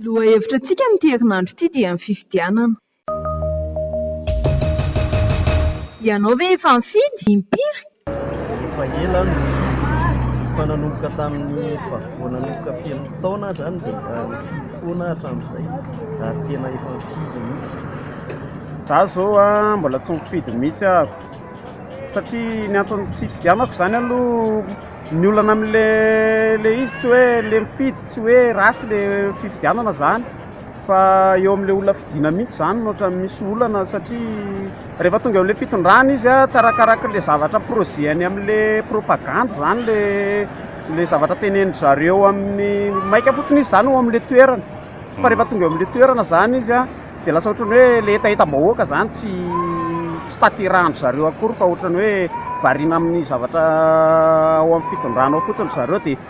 Lohahevitra antsika amin'ity herinandro ity dia ny fifidianana. Ianao ve efa nifidy? Impiry? Efa ela no efa nanomboka tamin'ny efa vao nanomboka feno taona izany dia nifidy foana aho hatramin'izay ary tena efa nifidy mihitsy. Za zao a mbola tsy nifidy mihitsy aho satria ny antony tsy hifidianako izany aloha ny olana amin'ilay ilay izy tsy hoe ilay mifidy tsy hoe ratsy ilay fifidianana izany. Fa eo amin'ilay olona fidiana mihitsy izany no ohatran'ny misy olana satria rehefa tonga eo amin'ilay fitondrana izy tsy arakarak'ilay zavatra projet-ny amin'ilay propagandy izany ilay ilay zavatra tenenin-dry zareo amin'ny maika fotsiny izy izany eo amin'ilay toerana. Fa rehefa tonga eo amin'ilay toerana izany izy an dia lasa ohatran'ny hoe ilay hetahetam-bahoaka izany tsy tsy tanterahan-dry zareo akory fa ohatran'ny hoe variana amin'ny zavatra ao amin'ny fitondrana ao fotsiny ry zareo dia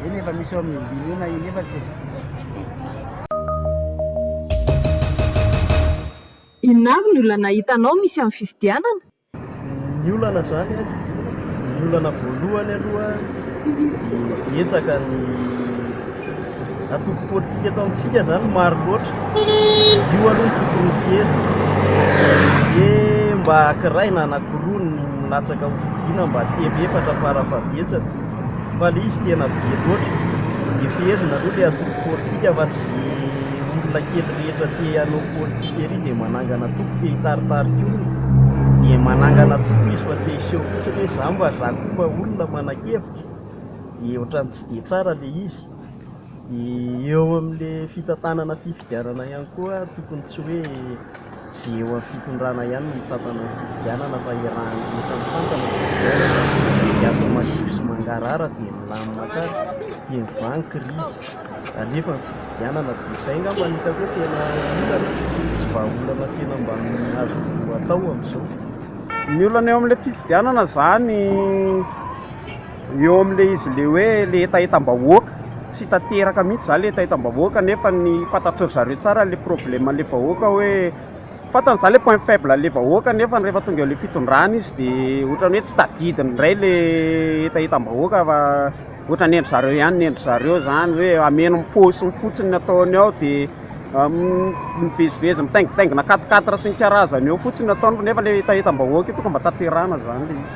Eny efa misy eo amin'ny Binoana eny efa tsy. Inona avy ny olana hitanao misy amin'ny fifidianana? Ny olana izany an, ny olana voalohany aloha dia betsaka ny antoko politika eto amintsika izany maro loatra, io aloha no fiporofiheziny dia mba ankiray na anankiroa no milatsaka ho fidiana mba telo efatra fara fahabetsany. fa le izy tena be loatra, dia fehezina aloha le antoko politika fa tsy olona kely rehetra te hanao politika ery dia manangana antoko te hitaritarika olona, dia manangana antoko izy fa te hiseho fotsiny hoe za mba za koa mba olona manan-kevitra, dia ohatran'ny tsy dia tsara le izy. Eo amin'ilay fitantanana fifidianana ihany koa, tokony tsy hoe izay eo amin'ny fitondrana ihany no mitantana ny fifidianana fa iarahan'ny rehetra mitantana ny fifidianana, dia aza madio sy mangarahara dia milamina tsara, dia mivangy krizy, alefa ny fifidianana, dia izay angamba no hitako hoe tena olana sy vahaolana tena mba azo atao amin'izao. Ny olana eo amin'ilay fifidianana izany. Eo amin'ilay izy ilay hoe ilay hetahetam-bahoaka, tsy tanteraka mihitsy izany ilay hetahetam-bahoaka nefa ny fantatry ry zareo tsara ilay probleman'ilay vahoaka hoe fantany izany ilay point faible an'ilay vahoaka nefa rehefa tonga eo amin'ilay fitondrana izy dia ohatran'ny hoe tsy tadidiny indray ilay hetahetam-bahoaka fa ohatra ny an-dry zareo ihany ny an-dry zareo izany hoe hameno ny paosiny fotsiny ny ataony ao dia mivezivezy mitaingitaingina quatre quatre sy ny karazany eo fotsiny ny ataony nefa ilay hetahetam-bahoaka io tonga mba tanterahina izany ilay izy.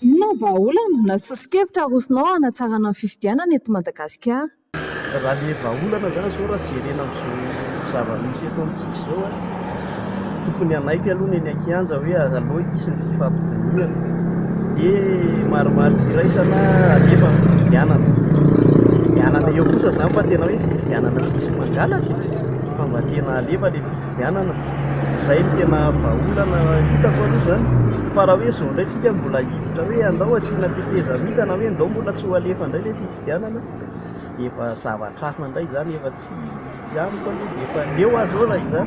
Inona ny vahaolana na soso-kevitra arosonao hanatsarana ny fifidianana eto Madagasikara? Raha ilay vahaolana izany izao raha jerena amin'izao zava-misy eto amintsika izao a, tokony hanaiky aloha ny eny an-kianja hoe aleo hisy ny fifampidinihana dia marimarika iraisana alefa ny fifidianana. Fifidianana eo kosa izany fa tena hoe fifidianana tsisy mpangalatra fa mba tena alefa ilay fifidianana. fifidianana. Izay no tena vahaolana hitako aloha izany. Fa raha hoe izao indray tsika mbola hiditra hoe andao asiana tetezamita na hoe ndao mbola tsy ho alefa indray ilay fifidianana dia efa zavatra hafa indray izany efa tsy ihany fa aloha dia efa leo aho izao raha izaho.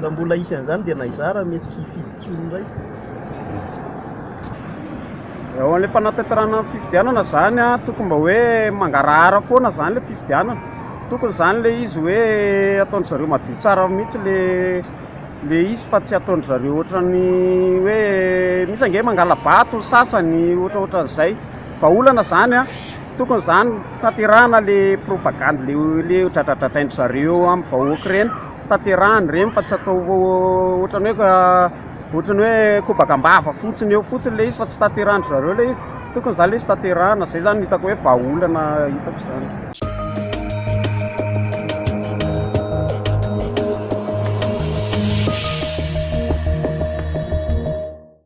Raha mbola hisy an'izany dia na izaho ary mety tsy hifidy intsony indray. Eo amin'ilay fanatanterahana ny fifidianana izany an, tokony mba hoe mangarahara foana izany ilay fifidianana. Tokony izany ilay izy hoe ataon-dry zareo madio tsara mihitsy ilay ilay izy fa tsy ataon-dry zareo ohatran'ny hoe misy ange mangala-bato ny sasany ohatraohatran'izay. Vahaolana izany an! Tokony izany tanterahana ilay propagande ilay ilay dradradradrain-dry zareo eo amin'ny vahoaka ireny, tanterahana ireny fa tsy atao ohatran'ny hoe Ohatry ny hoe kobaka am-bava fotsiny eo fotsiny ilay izy fa tsy tanterahan-dry zareo ilay izy. Tokony izany ilay izy tanterahana. Izay izany no hitako hoe vahaolana hitako izany.